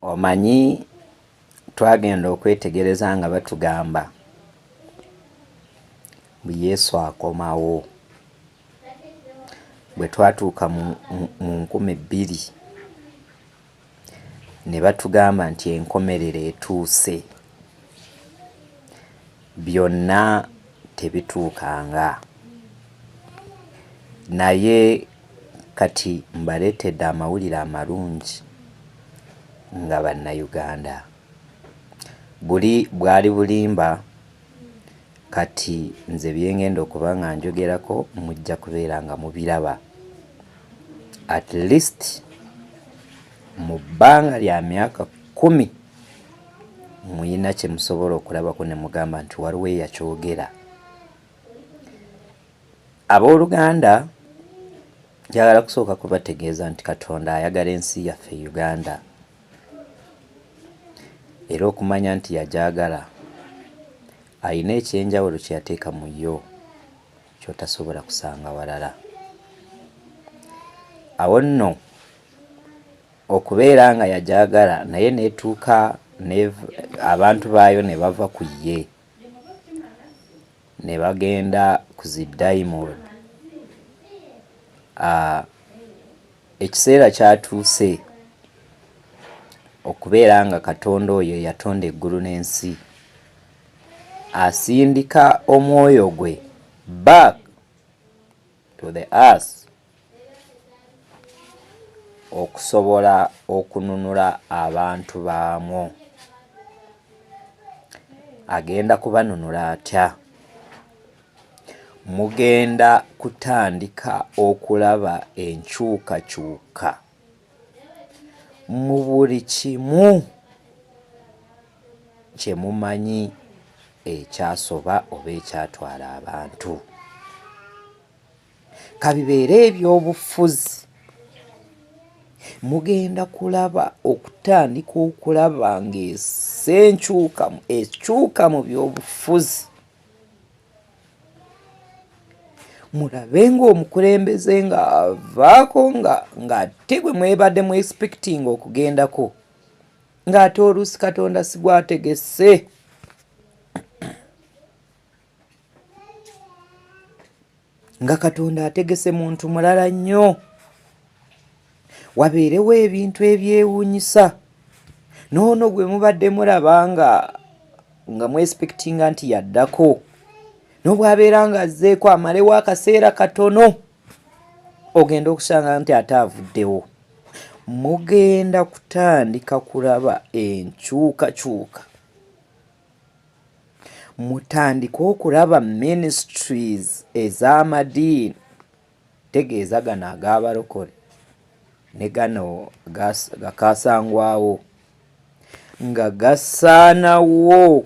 Omanyi twagenda okwetegereza nga batugamba bu Yesu akomawo bwe twatuuka mu nkumi bbiri ne batugamba nti enkomerero etuuse. Byonna tebituukanga. Naye kati mbaleetedde amawulire amalungi nga Bannayuganda. Buli bwali bulimba kati nze bye ng'enda okuba nga njogerako mujja kubeera nga mubiraba. At least mu bbanga lya myaka kkumi. muyina kyemusobola okulabako nemugamba nti waliwo eyakyogera abooluganda njagala kusooka kubategeeza nti katonda ayagala ensi yaffe uganda era okumanya nti yagyagala alina ekyenjawulo kyeyateeka mu yo kyotasobola kusanga walala awo nno okubeera nga yagyagala naye netuuka abantu baayo ne bava ku ye ne bagenda ku zi diamond ah, ekiseera kyatuuse okubeera nga katonda oyo eyatonda eggulu n'ensi asindika omwoyo gwe back to the earth okusobola okununula abantu baamwo agenda kubanunula atya mugenda kutandika okulaba enkyukakyuka mu buli kimu kye mumanyi ekyasoba oba ekyatwala abantu kabibeere ebyobufuzi mugenda kulaba okutandika okulaba ng'esenkyukamu ekyuka mu byobufuzi mulabe ng'omukulembeze ng'avaako ng'ate gwe mwebadde mu expecting okugendako ng'ate oluusi katonda sigwategese nga katonda ategese muntu mulala nnyo wabeerewo ebintu ebyewuunyisa noono gwe mubadde mulaba nga nga mwespektinga nti yaddako nobwabeera nga azzeeko amalewo akaseera katono ogenda okusanga nti ate avuddewo mugenda kutandika kulaba enkyukakyuka mutandike okulaba ministries ez'amadiini Ntegeeza gano ag'abalokole ne gano gakaasangwawo nga gasaanawo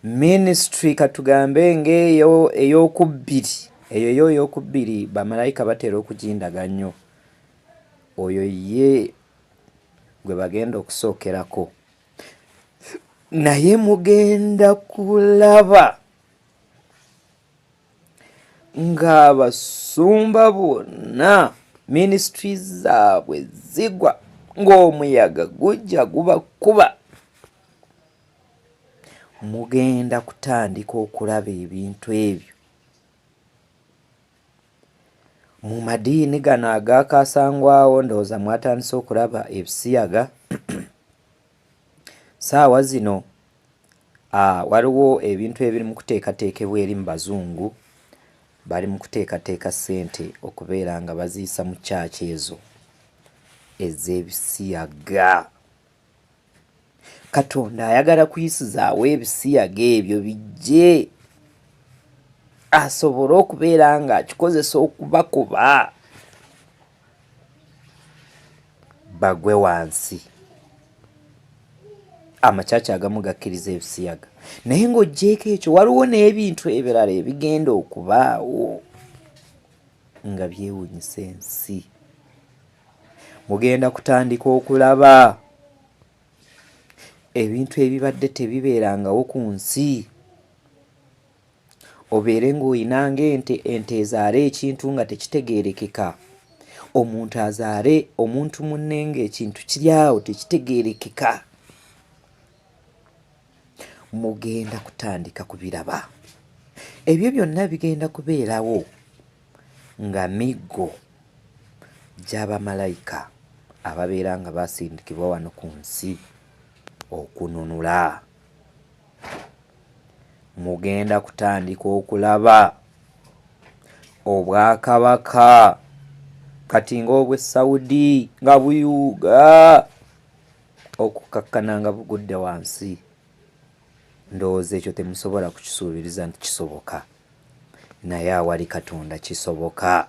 minisitule katugambe ng'eyo ey'okubbiri eyo yo ey'okubbiri bamalayika batera okugindaga nnyo oyo ye gwe bagenda okusookerako naye mugenda kulaba ng'abasumba bonna minisitiri zaabwe zigwa ng'omuyaga gujja gubakuba mugenda kutandika okulaba ebintu ebyo mu madiini gano agaakaasangwawo ndowooza mwatandise okulaba ebisiyaga Saawa zino ah, waliwo ebintu ebiri mu kuteekateekebwa eri mu bazungu, bali mu kuteekateeka ssente okubeera nga baziyisa mu kyaki ezo ez'ebisiyaga. Katonda ayagala kuyisizaawo ebisiyaga ebyo bijje asobole okubeera ng'akikozesa okubakuba. bagwe wansi amakyaki agamu gakkiriza ebisiyaga naye ng'oggyeeko ekyo waliwo n'ebintu ebirala ebigenda okubaawo nga byewunyisa ensi mugenda kutandika okulaba ebintu ebibadde tebibeerangawo ku nsi obeere ng'olina ng'ente ente ezaala ekintu nga tekitegeerekeka omuntu azaale omuntu munne ng'ekintu kiri awo tekitegeerekeka mugenda kutandika kubiraba ebyo byonna bigenda kubeerawo nga miggo gy'abamalayika ababeera nga baasindikibwa wano ku nsi okununula mugenda kutandika okulaba obwakabaka kati ng'obw'e Saudi nga buyuuga okukkakkana nga bugudde wansi ndowooza ekyo temusobola kukisuubiriza nti kisoboka naye awali Katonda kisoboka.